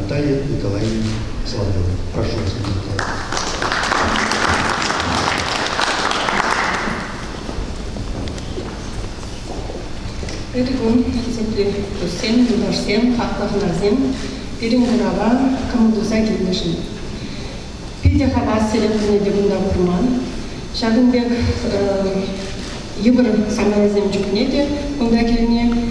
Наталья Николаевна Соловьева. Прошу вас, Николай. Ытти кун хисеплӗ туссем, юлташсем, хаклӑ хӑнасем, пирӗн курава кӑмӑл туса килнӗшӗн. Питӗ хавассерен пулни те кунта курман. Ҫакӑн пек йывӑр саманасем чухне те кунта килни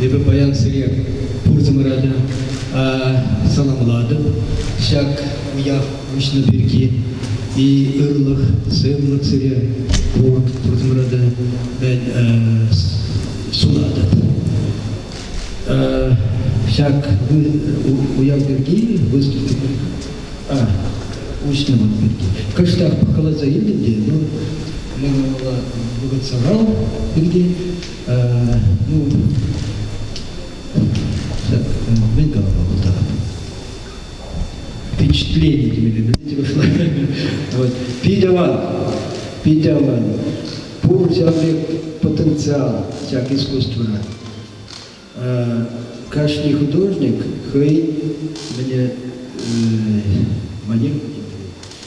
Эпӗ паян сире пурсӑмӑра саламлатӑп. Ҫак уяв уҫнӑ пирки и ырлӑх, сывлӑх сире пур пурсӑмӑра та сунатӑп. Ҫак уяв пирки выступили уҫнӑ пирки. Кӑштах пӑхкаласа илтӗм те, ну, мана вӑхӑт сахал пирки Ну, мӗн калама кунта? Впечатление именно, видите, вышло. Вот. Питӗ ман, питӗ ман. Пур ҫав пек потенциал ҫак искусствӑра. Кашни художник хӑй мне манер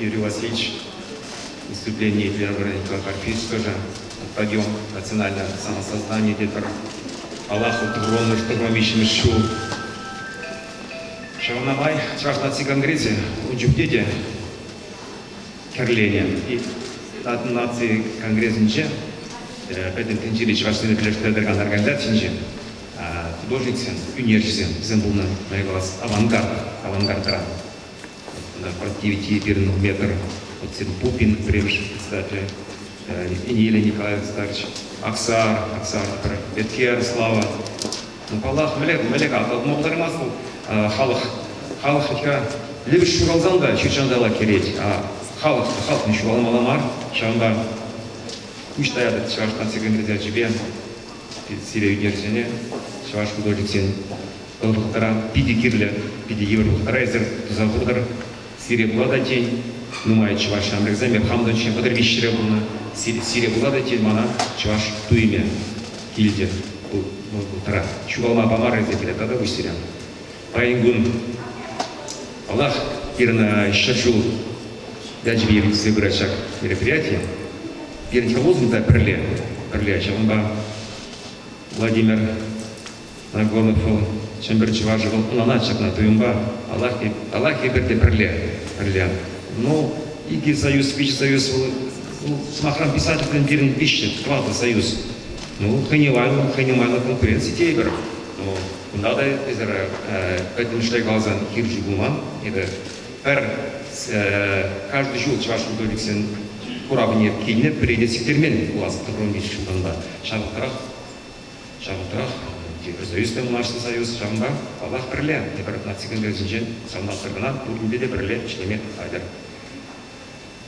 Юрий Васильевич, выступление Первобранникова Карпийского, подъем национального самосознания тепер Аллаху Турону штурмом виҫҫӗмӗш ҫул. Ҫавна май Чӑваш наци конгресӗ ун чухне те кӗрленӗ. И наци конгресӗнче пӗтӗм тӗнчери чӑвашсене пӗрлештере тӑракан организацинче художниксем, ӳнерҫӗсем, вӗсем пулнӑ, авангард, авангард тӑран. Напротиве пирӗн метр сим Пупин пӗрремӗш председатель, Илья Николаевич старч, Аксар, Аксар пӗр Эткер, Слава. Ну, паллах, мӗлек, мӗлек атӑлма пултармасть вӑл халӑх. Халӑх ха лӗпӗш ҫуралсан та ҫутҫанта ла кӗрет, а халӑх халӑхне ҫуралмалла мар. Ҫавӑнпа куҫ таятӑп Чӑваш наци конгресс ячӗпе сире ӳкерҫӗне, чӑваш художниксен Вӑл вӑхӑтра питӗ кирлӗ, питӗ йывӑр вӑхӑтра эсир туса хуртӑр. Сире пулатать тен, нумай чӑваш ҫамрӑкӗсемпе хамӑн та ҫын хӑтӑр виҫҫӗре пулнӑ. Сире пулатать тен, мана чӑваш туйӑмӗ килтӗ. Вӑл вӑхӑтра ҫухалма памарӗ-сем пӗлет тата куҫсирен. Паян кун Аллах пирӗн ҫӗршыв ячӗпе иртсе пырать ҫак мероприятие. Пирӗн хӗр-улшӑн та пӗрле, пӗрле ҫавӑнпа Владимир Рагонов вӑл, Чӗмпӗр чӑвашӗ вӑл ӑнланать ҫакна туйӑмпа. Аллахи пӗрте пӗрле, пӗрле. Ну, икӗ союз, виҫӗ союз, вӑл, вӑл сӑмахран, писательсен пирӗн виҫҫӗ, тӑватӑ союз. Ну, хӑй не майлӑ, хӑй не майлӑ конкуренци тейпӗр. Ну, кунта та эсир пӗтӗм шая каласан хирӗҫӳ пулман. Эпӗ пӗр каждый ҫул чӑваш бунтовниксен куравне килнӗ, пӗрене сиктермен пулас тӑхӑрӑн виҫ ҫултанпа. Ҫавӑнтарах Ҫавӑнтарах вӑл Евросоюз та влаҫлӑ союз, ҫавӑнпа, паллах, пӗрле, тепӗр наци конгресӗнчен савӑнатпӑр кӑна, пуринпе те пӗрле ӗҫлеме хатӗр.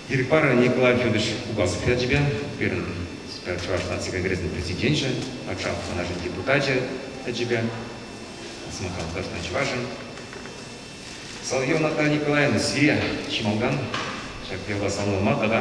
Ирӗк пар, Николай Федорович Угазов ячӗпе, пирӗн Чӑваш наци конгресӗн президенчӗ, патша ханашӗн депутачӗ ячӗпе, сӑмахран, тӑрӑшнӑ чӑвашӑн. Соловьева Наталья Николаевна сире чи малтан ҫак явапа саламлама тата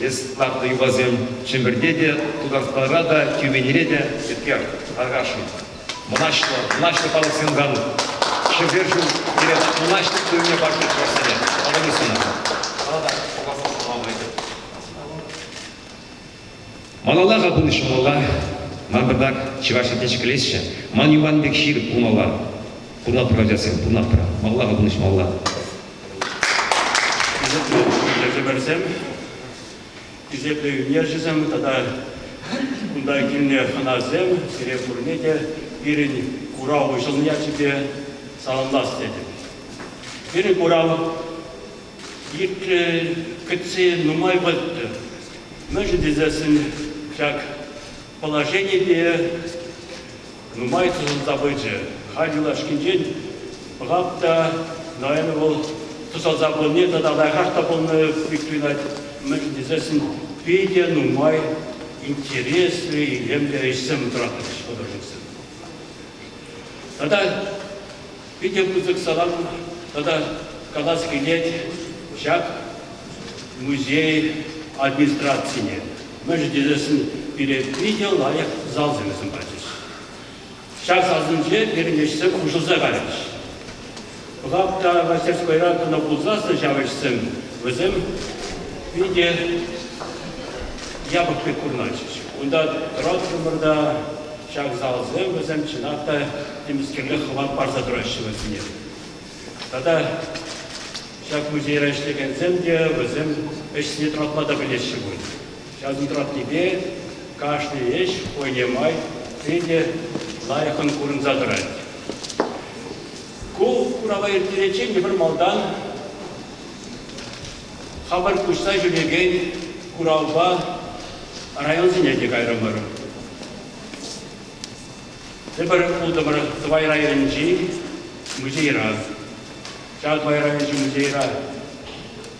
Эс Нарт йӑвасем Чӗмпӗрте те, Тутарстанра та, Тюменьре те, Еткер, Аркашӑн. Мӑнаҫлӑ, мӑнаҫлӑ палӑксем кану. Ҫӗпер ҫул пире мӑнаҫлӑ туйӑмне парса чӑвашсене. Алла сунӑ. Ана та пуласса сӑнама пулать. Малалла-ха пынӑ ҫумалла. Ман патак чӑваш ятне ҫӗклесчӗ. Ман юхан пек ҫыр пулмалла. Пурнатпӑр ачасем, пурнатпӑр. Малалла-ха пынӑ ҫумалла. Хисеплӗ ертӳпӗрсем, хисеплӗ ӳнерҫӗсем тата кунта килнӗ хӑнасем, сире пурне те пирӗн курав уҫӑлнӑ ячӗпе саламлас тетӗп. Пирӗн курав иртнӗ кӗтсе нумай вӑт. Мӗншӗн тесессӗн ҫак положенипе нумай тӑсӑлса пычӗ. Халь юлашкинчен пӑхап та, наверное, вӑл тӑсӑлса пулни тата лайӑхах та пулнӑ пек туйӑнать. Мӗншӗн тесессӗн питӗ нумай интереслӗ, илемлӗ ӗҫсем тӑратӑрӗҫ художниксем. Тата питӗ пысӑк салам тата калас килет ҫак музей администрацине. Мӗншӗн тесен пире питӗ лайӑх залсем пачӗҫ. Ҫак залсенче пирӗн ӗҫсем хушӑлса кайрӗҫ. Пӑхап та мастерскойра кӑна пулсассӑн ҫав ӗҫсем вӗсем питӗ япӑх пек курӑнатчӗҫ. Унта тӑраттӑмӑр та Ҫак залсем вӗсем чӑнах та темӗскерле хӑват парса тӑраҫҫӗ вӗсене. Тата ҫак музейра ӗҫлекенсем те вӗсем ӗҫсене тӑратма та пӗлеҫҫӗ пуль. Ҫакӑн тӑратнипе кашни ӗҫ хӑйне май питӗ лайӑхӑн курӑнса тӑрать. Ку курава ирттериччен те пӗр малтан Хапӑр куҫса ҫӳрекен куравпа районсене те кайрӑмӑр. Тепӗр утӑмӑр Тӑвай районӗнчи музейра. Ҫак Тӑвай районӗнчи музейра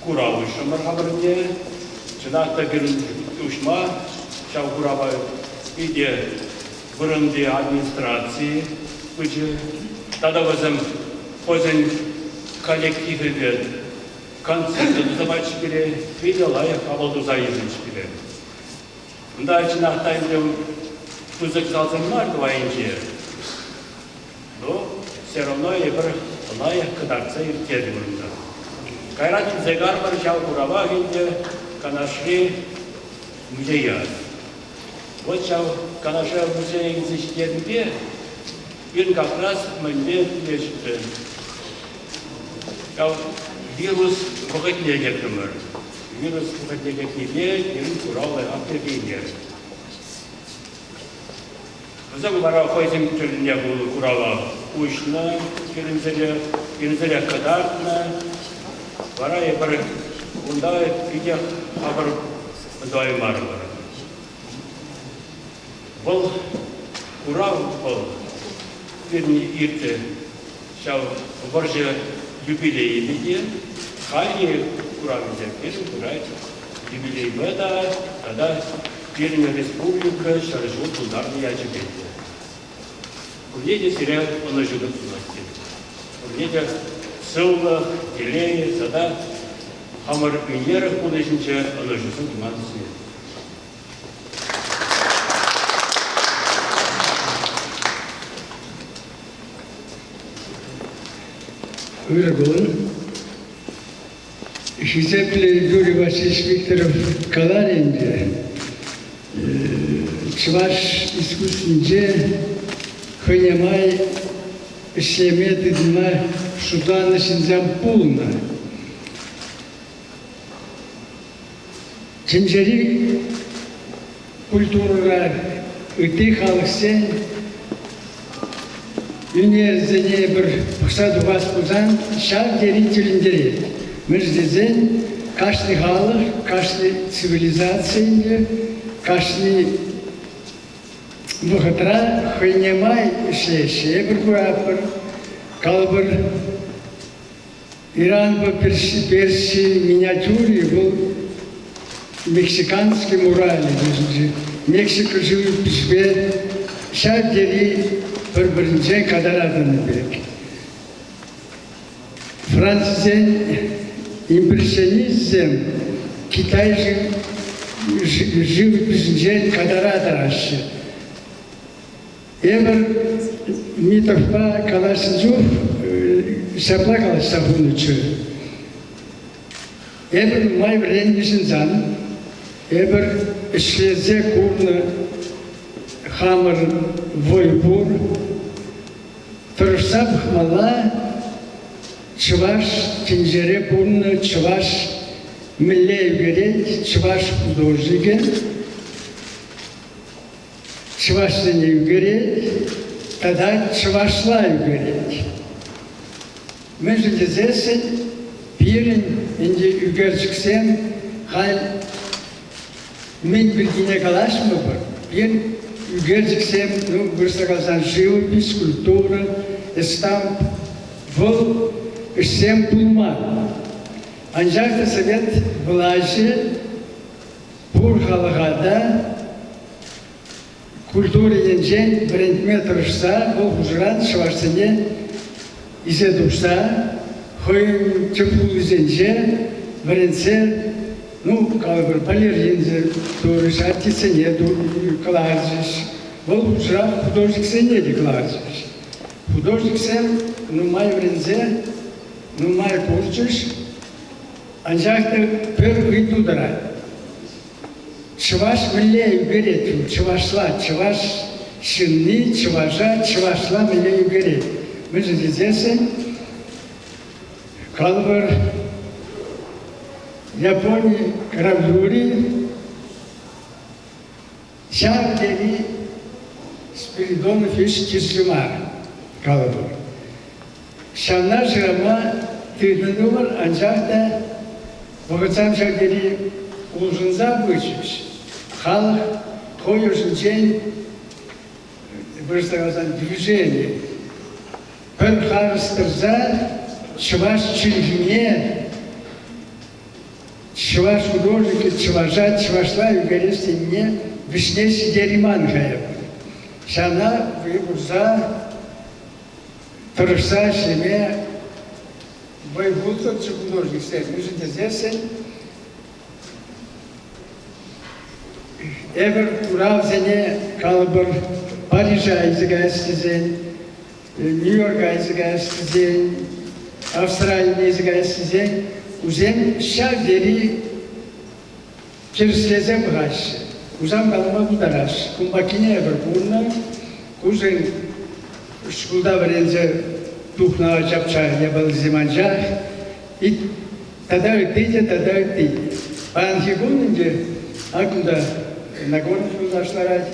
курав уҫрӑмӑр хамӑр те. Чӑнах та пирӗн уҫма ҫав курава питӗ вырӑнти администраци пычӗ. Тата вӗсем хӑйсен коллективӗпе концерт тӑвать-ҫке пире, хӑй те лайӑх авал туса илнӗ-ҫке пире. Унта чӑнах та ӗнтӗ пысӑк залсем мар тӑвайӗнче, но все равно эпир лайӑх кӑтартса ирттернӗ унта. Кайран чӗнсе карпӑр ҫав куравах ӗнтӗ Канашри музея. Вот ҫав Канаша музейӗн ҫитернипе Пирӗн кафраз мӗнле тӳлеҫҫӗ-ши? Ҫав вирус вӑхӑтне кӗртӗмӗр. Вирус вӑхӑтне кӗртнипе пирӗн курав лайӑхах перкеймест. Вӗсем вара хӑйсен тӗлне пулнӑ курава уҫнӑ, пирӗнсене, пирӗнсене кӑтартнӑ. Вара эпир унта питех хапӑр тӑваймарӑмӑр. Вӑл хурав вӑл пирӗн иртрӗ. Ҫав вӑрҫӑ юбилейӗ те, халӗ куравӗсем пирӗн пырать. Юбилейпа та тата пирӗн республика ҫӗр ҫул тултарнӑ ячӗпе те. Пурне те сире ӑнӑҫу тӑсмасть тетӗп. Пурне те сывлӑх, телей тата хамӑр ӳнер пурнӑҫӗнче ӑнӑҫусем туман сире. Ыргулӑн хисеплӗ Юрий Васильевич Викторов калар ӗнтӗ, чӑваш искусствинче хӑйне май ӗҫлеме тытӑнма шутланӑ ҫынсем пулнӑ. Тӗнчери культурӑра ытти халӑхсен ӳнерӗсене эпир пӑхса тухас пулсан ҫав тери тӗлӗнтерет. Мӗш тесен кашни халӑх, кашни цивилизаци ӗнтӗ кашни вӑхӑтра хӑйне май ӗҫлеҫҫӗ. Эпир куратпӑр, калӑпӑр, Иранпа Перси миниатюри вӑл мексиканский мурале йышӗнчи Мексика шывӗ пиҫпе ҫав тери пӗр-пӗринчен катаратӑн пек. Францсен импрессионистсем Китай шывӗ пиҫӗнчен катара тараҫҫӗ. Эпӗ Митовпа калаҫнӑ чух ҫапла калаҫса хунӑччӗ. Эпӗ нумай вӗреннӗ ҫынсан эпӗр ӗҫлесе курнӑ хамӑр вӑй пур. Тӑрӑшса пӑхмалла, чӑваш тӗнчере пурӑннӑ чӑваш мӗнле ӳкерет, чӑваш художникӗ. чӑвашсене ӳкерет тата чӑвашла ӳкерет. Мӗншӗн тесессӗн пирӗн ӗнтӗ ӳкерчӗксем халь мӗн пиркине калаҫмӑпӑр. Пирӗн ӳкерчӗксем, ну, вырӑсла каласан, живопись, культура, эстамп, вӑл ӗҫсем пулман. Анчах та совет влаҫӗ пур халӑха та культура енчен вӗрентме тӑрӑшса вӑл хушӑран чӑвашсене исе тухса хӑйӗн тӗп хулисенче вӗрентсе ну калӑпӑр балеринсем турӗҫ артистсене кӑларчӗҫ вӑл хушӑрах художниксене те кӑларчӗҫ художниксем нумай вӗренсе нумай курчӗҫ Анчах та пӗр ыйту тӑрать. Чӑваш мӗнле ӳкерет? Чӑвашла чӑваш ҫынни чӑваша чӑвашла мӗнле ӳкерет? Мӗншӗн тесессӗн калпӑр Япони гравюри Ҫав тери спиридон хӗҫ тӗслӗ мар калӑпӑр. Ҫавна шырама тытӑннӑ пулӑр, анчах та вӑхӑтсем ҫав тери улшӑнса пычӗҫ. Халӑх хӑй ӑшӗнчен вырӑсла каласан движени пӗр харӑс тӑрса чӑваш чӗлхине Чӑваш художникӗ чӑваша чӑвашла ӳкерес енне вӗҫне ҫитерейман-ха эп. Ҫавна вӑй хурса тӑрӑшса ӗҫлеме вӑй хутсӑрччӗ художниксем, мӗншӗн тесессӗн эпир куравсене, калӑпӑр, Парижа илсе каяс тесен Нью-Йорк кайса каяссисен, Австрали кайса каяссисен кусем ҫав тери тӗрӗслесе пӑхаҫҫӗ. Хусан калама пултараҫҫӗ. Кун паккине эпӗр пурнӑ. Кусен шкулта вӗренсе тухнӑ ачапча япалисем анчах. Тата ытти те, тата ытти. Паянхи кун ӗнтӗ акӑ та Нагорный юлташ ларать.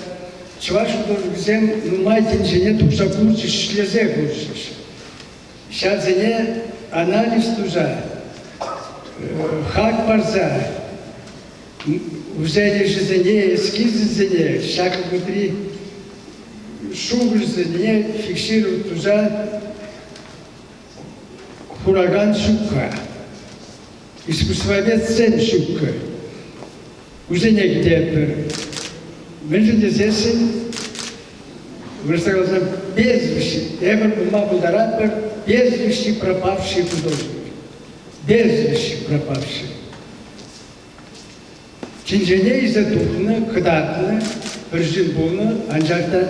Чӑваш художникӗсем нумай тӗнчене тухса курчӗҫ, ӗҫлесе курчӗҫ. Ҫавсене анализ туса, хак парса, усал ӗҫӗсене, эскизӗсене, ҫакӑн выртри шухӑшсене фиксировать туса Хуракан ҫукка, искусствоведсен ҫукка. Кусене кӗтетпӗр. Мӗншӗн тесессӗн вырӑсла каласан безвещи. Эпир пулма пултаратпӑр безвещи пропавший художник. Безвещи пропавший. Чӗнчене илсе тухнӑ, кӑтартнӑ, пӗр ҫын пулнӑ, анчах та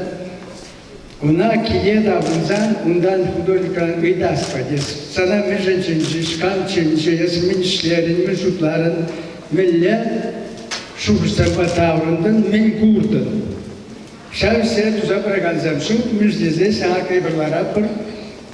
ӑна киле таврӑнсан унтан художникран ыйтаспа тес. Сана мӗншӗн чӗнчӗҫ, кам чӗнчӗ, эсӗ мӗн ӗҫлерӗн, мӗн шутларӑн, мӗнле шухӑшсемпе таврӑнтӑн, мӗн куртӑн. Ҫав ӗҫсене туса пыракансем ҫук, мӗш тесе сана кайпӑрлара пӗр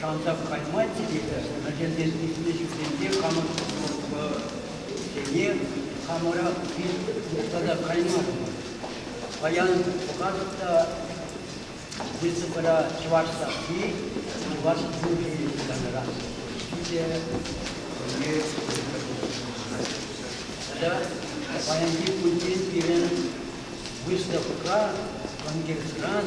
Шантах кайма тиветӗр, пӗлтермес ыйтнӑ ҫынсемпе хамӑр обществосене хамӑрах тата каймастӑмӑр. Паян пӑхатӑп та, республикӑра чӑваш сасси, чӑваш мучи янӑрах ҫитӗ. Тата паянхи кунччен пирӗн выставка конкурсран